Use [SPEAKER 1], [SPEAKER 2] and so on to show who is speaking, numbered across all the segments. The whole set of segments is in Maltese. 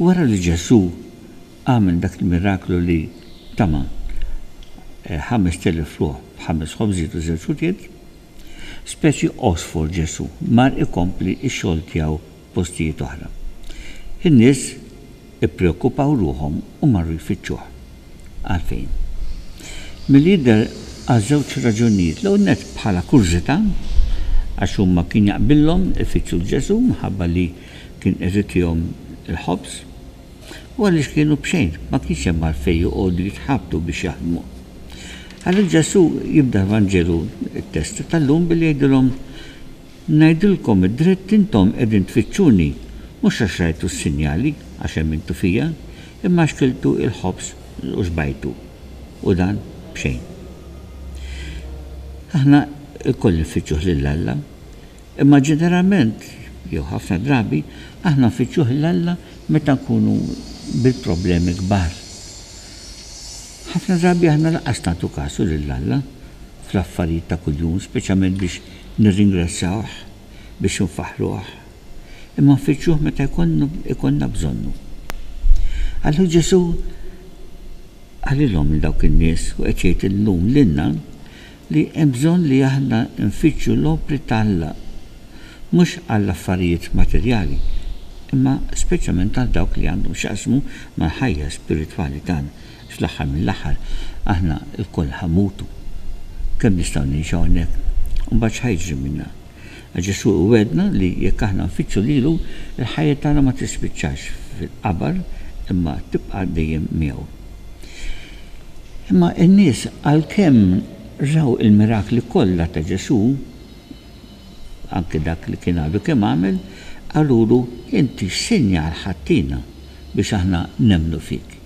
[SPEAKER 1] Wara li Ġesù għamel dak il-miraklu li tama' ħamest elef ruħ b'ħames ħobżiet u żewġ ħutiet, speċi għosfor Ġesù mar ikompli x-xogħol tiegħu f'postijiet oħra. In-nies ippreokkupaw ruħhom u marru jfittxuh. Għalfejn? Milli jidher għal żewġ raġunijiet. L-ewwel nett bħala kurżità, għax huma kien jaqbillhom ifittxu 'l Ġesù minħabba li Kien qed itihom il-ħobż, u għaliex kienu b'xejn, ma kienx hemm għalfejn joqogħdu jitħabtu biex jaħdmu. Għalhekk Ġesù jibda l-Vanġelu, it-test tal-lum, billi jgħidilhom, Ngħidilkom id-dritt intom qegħdin tfittxuni, mhux għax rajtu s-sinjali, għax emmintu fija, imma għax kiltu il-ħobż u xbajtu, u dan b'xejn. Aħna lkoll nfittxuh lil Alla. Imma ġeneralment, jew ħafna drabi, aħna nfittxuh 'l Alla meta nkunu bil-problemi kbar. Ħafna drabi aħna lanqas nagħtu kasu lil Alla fl-affarijiet ta' kuljum, speċjalment biex nirringrazzjawh, biex infaħħruh. Imma nfittxuh meta jkollna bżonnu. Allura Ġesù qalilhom lil dawk in-nies u qed jgħid illum lilna, li hemm bżonn li aħna nfittxu l-opri ta' Alla, mhux għall-affarijiet materjali, imma speċjalment għal dawk li għandhom x'jaqsmu mal-ħajja spiritwali tagħna, għax fl-aħħar mill-aħħar aħna lkoll ħa mmutu. Kemm nistgħu ngħixu hawnhekk, u mbagħad x'ħa jiġri minna? Għax Ġesù iwegħdna li jekk aħna nfittxu lilu, il-ħajja tagħna ma tispiċċax fil-qabar imma tibqa' dejjem miegħu. Imma n-nies għalkemm raw il-mirakli kollha ta' Ġesù, anke dak li kien għadu kemm għamel, qalulu, Inti x'sinjal ħadtina biex aħna nemmnu fik?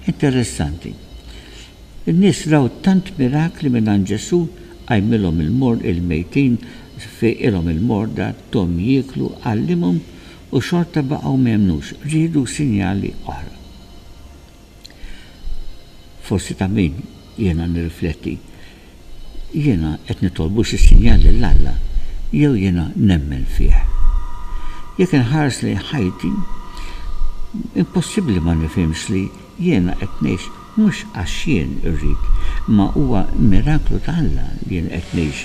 [SPEAKER 1] Interessanti. In-nies raw tant mirakli mingħand Ġesù, qajmilhom il-mor il-mejtin, fiqilhom il-morda, thom jieklu, għallimhom, u xorta baqgħu ma emmnux, riedu sinjali oħra. Forsi ta' min jiena nirrifletti, jiena qed nitolbu xi sinjal lil Alla jew jiena nemmen fih? Jekk inħares lejn ħajti, impossibbli ma nifhimx li Jiena qed ngħix mhux għax jien irrid, imma huwa miraklu ta' Alla li jien qed ngħix.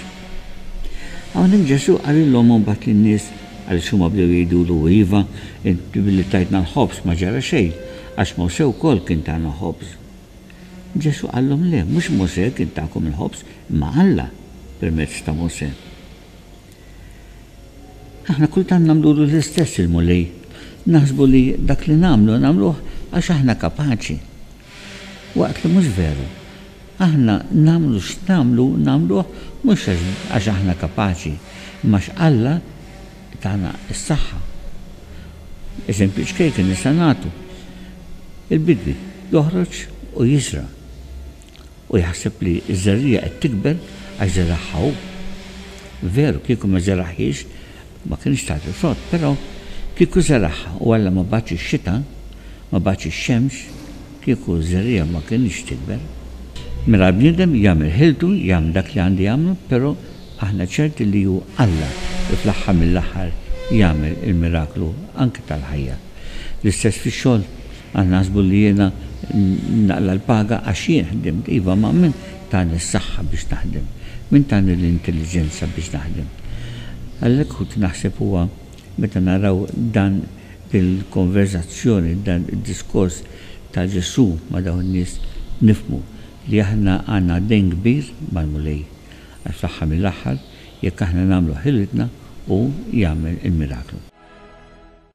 [SPEAKER 1] Hawnhekk Ġesù qalilhom imbagħad lin-nies, għaliex huma bdew jgħidulu, Iva, int billi tajtna l-ħobż ma ġara xejn, għax Mosè wkoll kien tana ħobż. Ġesù qalhom, Le, mhux Mosè kien takom il-ħobż, imma Alla permezz ta' Mosè. Aħna kultant nagħmlulu l-istess il-Mulej. Naħsbu li dak li nagħmlu, nagħmluh għax aħna kapaċi. Waqt li mhux veru. Aħna nagħmlu x'nagħmlu, nagħmluh mhux għax aħna kapaċi, imma għax Alla tana s-saħħa. Eżempju ċkejken nistgħu nagħtu. Il-bidwi joħroġ u jiżra'. Hu jaħseb li ż-żerriegħa qed tikber għax żeragħha hu. Veru, kieku ma żeragħhiex, ma kinitx tagħti frott, però kieku żeragħha u Alla ma bagħatx ix-xita, ma bagħatx ix-xemx, kieku ż-żerriegħa ma kinitx tikber. Mela l-bniedem jagħmel ħiltu, jagħmel dak li għandu jagħmlu, però aħna ċerti li hu Alla li fl-aħħar mill-aħħar jagħmel il-miraklu anke tal-ħajja. L-istess fix-xogħol Għal naħsbu li jiena naqla' l-paga għax jien ħdimt. Iva, ma min tani s-saħħa biex naħdem? Min tani l-intelliġenza biex naħdem? Għalhekk kont naħseb huwa meta naraw dan din il-konverżazzjoni, dan id-diskors ta' Ġesù ma' dawn in-nies, nifhmu li aħna għandna dejn kbir mal-Mulej. Għax fl-aħħar mill-aħħar, jekk aħna nagħmlu ħilitna, hu jagħmel il-miraklu.